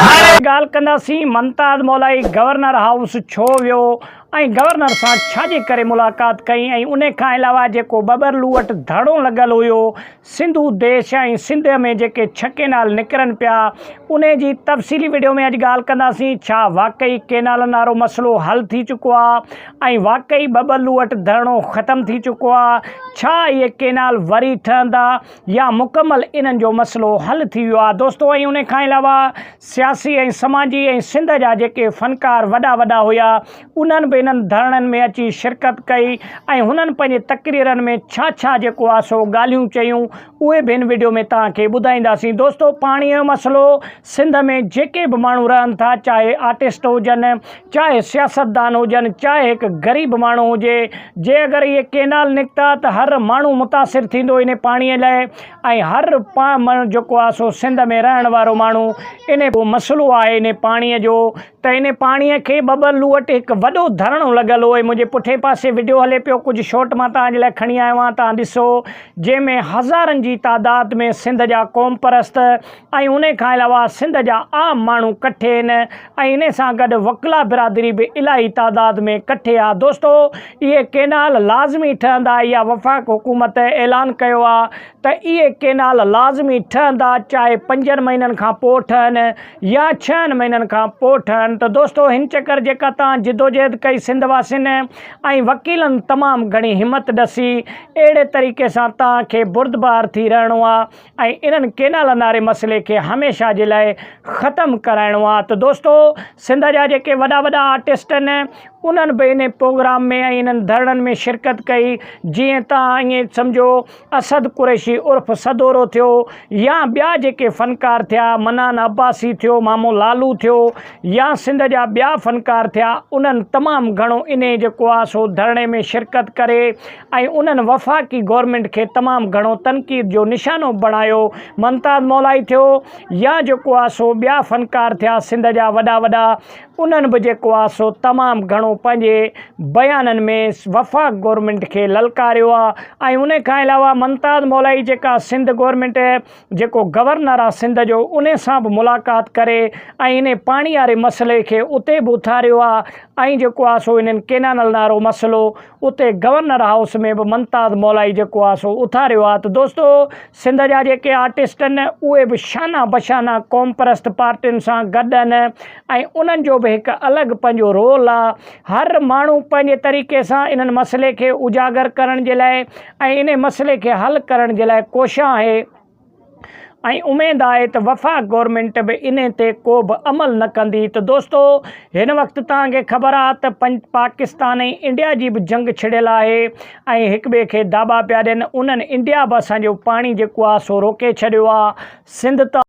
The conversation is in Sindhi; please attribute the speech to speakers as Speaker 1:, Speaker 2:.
Speaker 1: ھاڻي ڳالھ ڪنداسين منتاد مولائي گورنر ھائوس ڇو ويو ۽ گورنر سان ڇا جي ڪري ملاقات ڪئي ۽ ان کان علاوه جيڪو ٻٻرلو وٽ ڌرڻو لڳل ھيو سنڌو ديش ۽ سنڌ ۾ جيڪي ڇھ ڪينال نڪرن پيا انھي جي تفصيلي وڊيو ۾ اڄ ڳالھ ڪنداسين ڇا واقعي ڪينالن وارو مسئلو حل ٿي چڪو آ ۽ واقعي ٻٻلو وٽ ڌرڻو ختم ٿي چڪو آ ڇا اهي ڪينال وري ٺهندا يا مڪمل انهن جو مسئلو حل ٿي ويو آ دوستو ۽ ان کان علاوه سياسي ۽ سماجي ۽ سنڌ جا جيڪي فنڪار وڏا وڏا هيا انهن به انهن ڌرڻن ۾ اچي شرڪت ڪئي ۽ هنن پنهنجي تقريرن ۾ ڇا ڇا جيڪو آ سو ڳالهيون چيون اهي به هن وڊيو ۾ توهان کي ٻڌائينداسين دوستو پاڻي جو مسئلو سنڌ ۾ جيڪي به ماڻهو رهن ٿا چاهي آرٽسٽ هجن چاهي سياستدان هجن چاهي هڪ غريب ماڻهو هجي جي اگر اهي ڪينال نڪتا ته هر ماڻهو متاثر ٿيندو ان پاڻي لاء ۽ هر پا ماڻهو جيڪو آهي سو سنڌ ۾ رهڻ وارو ماڻهو ان مسئلو آهي ان پاڻي جو ته ان پاڻي کي ٻه ٻه لوٽ هڪ وڏو ڌرڻو لڳل هو منهنجي پٺين پاسي وڊيو هلي پيو ڪجهه شوٽ مان توهان جي لاء کڻي آيو آهيان توهان ڏسو جنهن ۾ هزارن جي تعداد ۾ سنڌ جا قوم پرست ۽ انهي کان علاوه سنڌ جا عام ماڻهو ڪٺي هن ۽ انهي سان گڏ وڪلا برادري به الاهي تعداد ۾ ڪٺي آ دوستو اهي ڪينال لازمي ٺهندا اها وفاق حڪومت اعلان ڪيو آ ته اهي ڪينال لازمي ٺهندا چاهي پنجن مهينن کان پو ٺهن يا ڇهن مهينن کان پو ٺهن ته دوستو هن چڪر جيڪا تان جدوجهد ڪئي سنڌ واسين ۽ وڪيلن تمام گهڻي همت ڏسي اهڙي طريقي سان تان کي بردبار ٿي رهڻو آ ۽ انهن ڪينالن واري مسئلي کي هميشه جي لاء ختم ڪرائڻو آ ته دوستو سنڌ جا جيڪي وڏا وڏا آرٽسٽ ان انهن به ان پروگرام ۾ ۽ انهن ڌرڻن ۾ شرڪت ڪئي جيئن تان ائين سمجهو اسد قريشي عرف سدورو ٿيو يا ٻيا جيڪي فنڪار ٿيا منان عباسي ٿيو مامو لالو ٿيو يا سنڌ جا ٻيا فنڪار ٿيا انهن تمام گهڻو انهي جيڪو آ سو ڌرڻي ۾ شرڪت ڪري ۽ انهن وفاقي گورنمينٽ کي تمام گهڻو تنقيد جو نشانو بڻايو ممتاز مولائي ٿيو يا جيڪو آ سو ٻيا فنڪار ٿيا سنڌ جا وڏا وڏا انهن به جيڪو آ سو تمام گهڻو پنهنجي بيانن ۾ وفاق گورنمينٽ کي للڪاريو آ ۽ ان کان علاوه ممتاز مولائي جيڪا سنڌ گورنمينٽ جيڪو گورنر آ سنڌ جو ان سان به ملاقات ڪري ۽ انهي پاڻي واري مسئلي کي اتي به اٿاريو آ ۽ جيڪو آ سو انهن ڪينانل نارو مسئلو اتي گورنر هائوس ۾ به ممتاز مولائي جيڪو آ سو اٿاريو آ ته دوستو سنڌ جا جيڪي آرٽسٽ ان اهي به شانه بشانه قوم پرست پارٽين سان گڏ ان ۽ انهن جو به هڪ الڳ پنهنجو رول آ هر ماڻهو پنهنجي طريقي سان انهن مسئلي کي اجاگر ڪرڻ جي لاء ۽ انهي مسئلي کي حل ڪرڻ جي لاء ڪوشان آهي ۽ اميد آهي ته وفاق گورنمينٽ به ان تي ڪو به عمل نه ڪندي ته دوستو هن وقت توهان کي خبر آهي ته پاڪستان ۽ انڊيا جي به جنگ ڇڙيل آهي ۽ هڪ ٻئي کي داٻا پيا ڏين انهن انڊيا به اسان جو پاڻي جيڪو آهي سو روڪي ڇڏيو آهي سنڌ ته